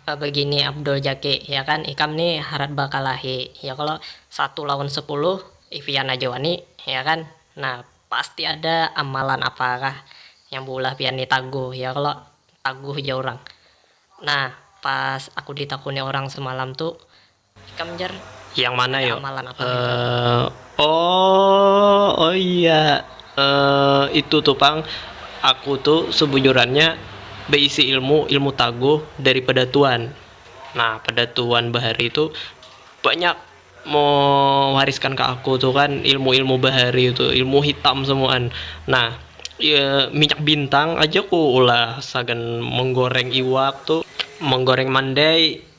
Apa bagini Abdul Jaki, ya kan ikam ni harat bakalahi, ya kalo? Satu lawan sapuluh, Ivian aja wani, ya kan? Nah, pasti ada amalan apakah yang beulah pian ni taguh, ya kalo? Taguh ja urang. Nah, pas aku ditakuni urang semalam tu, Ikam jar. Yang mana yo? Uh, oh, oh iya. Uh, itu tuh pang, aku tuh sebujurannya beisi ilmu ilmu taguh dari pedatuan. Nah pedatuan bahari itu banyak mewariskan ke aku tuh kan ilmu ilmu bahari itu ilmu hitam semuaan. Nah iya minyak bintang aja ku ulah sagan menggoreng iwak tuh menggoreng mandai.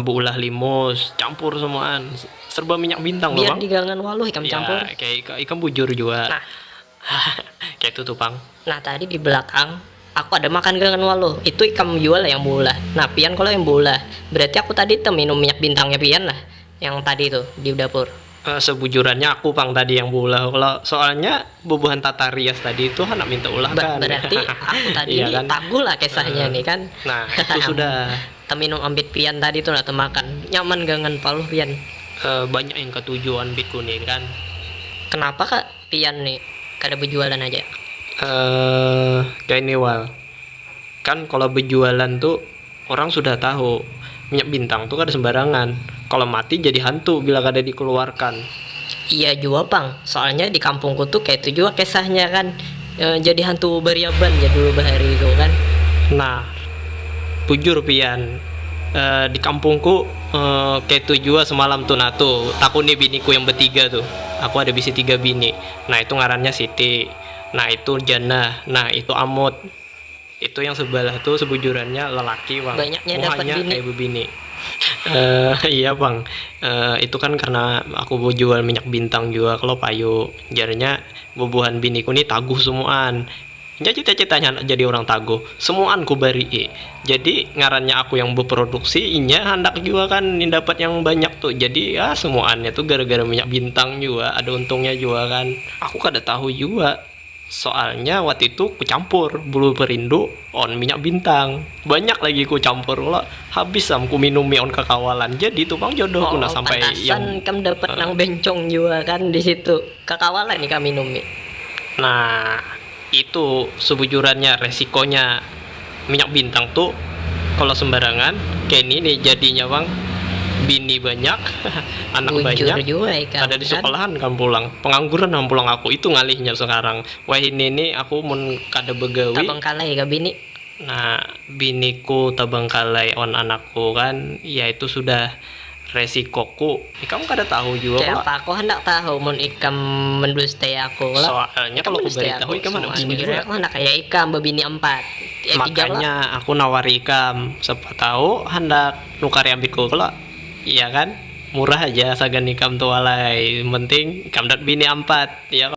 beulah limus campur semuaan serba minyak bintang biar di gangan waluh ikam ya, campur kayak ikam bujur jua nah kayak itu tuh pang nah tadi di belakang aku ada makan gangan waluh itu ikam jua lah yang beulah nah pian kalau yang beulah berarti aku tadi teminum minyak bintangnya pian lah Yang tadi tu di dapur. Sebujurannya aku pang tadi yang beulah kalo soalnya bubuhan tata rias tadi tu handak minta ulah kan. Berarti aku tadi ni taguh lah kisahnya ni kan. Nah itu sudah. Teminum ambit pian tadi tu nah temakan nyaman gangan paluh pian. Banyak yang katuju anbitku ni kan. Kenapa ka pian ni kada bejualan aja. Kaya ni wal kan kalo bejualan tu. Orang sudah tahu, minyak bintang tu kada sembarangan, kalo mati jadi hantu bila kada dikeluarkan. Iya jua pang, soalnya di kampungku tu kaitu jua kesahnya kan, jadi hantu bariaban jar dulu bahari tu kan. Nah, bujur pian, di kampungku kaitu jua semalam tu nah tu takuni biniku yang betiga tu, aku ada bisi tiga bini, nah itu ngarannya Siti, nah itu Jannah, nah itu Amut. Itu yang sebelah tu sebujurannya lelaki pang, muhanya kaya bebini. Eehh iya pang, eehh itu kan karna aku bejual minyak bintang jua kalo payu, jarnya bubuhan biniku ni taguh semuaan. Nya cita-citanya handak jadi urang taguh, semuaan kubarii. Jadi ngarannya aku yang beproduksi, inya handak jua kan dapat yang banyak tu, jadi yaa semuaannya tu gara-gara minyak bintang jua, ada untungnya jua kan. Aku kada tahu jua. Soalnya waktu itu ku campur bulu perindu on minyak bintang. Banyak lagi ku campur kalo, habis am ku minumi on kakawalan. Jadi tu pang jodoh ku nah sampai yang. Oh, pantasan ikam dapat nang bencong jua kan di situ. Kakawalan ikam minumi. Nah, itu sebujurannya resikonya. minyak bintang tu kalo sembarangan keni ni jadinya pang bini banyak anak banyak kada di sekolahan kam pulang pengangguran am pulang aku itu ngalihnya sekarang wahini ni aku mun kada begawi nah biniku tabangkalai wan anakku kan ya itu sudah. resikoku. Ikam kada tahu jua kalo. Kayapa aku handak tahu mun ikam mendustai aku kalo. Soalnya kalo kubaritahu ikam handak bini jua. Soalnya aku handak kaya ikam babini empat. Eh tiga kalo. Makanya aku nawari ikam, siapa tahu handak nukari ambitku kalo. Iya kan? Murah haja sagan ikam tu alai, yang penting ikam dapat bini ampat, iya kalo.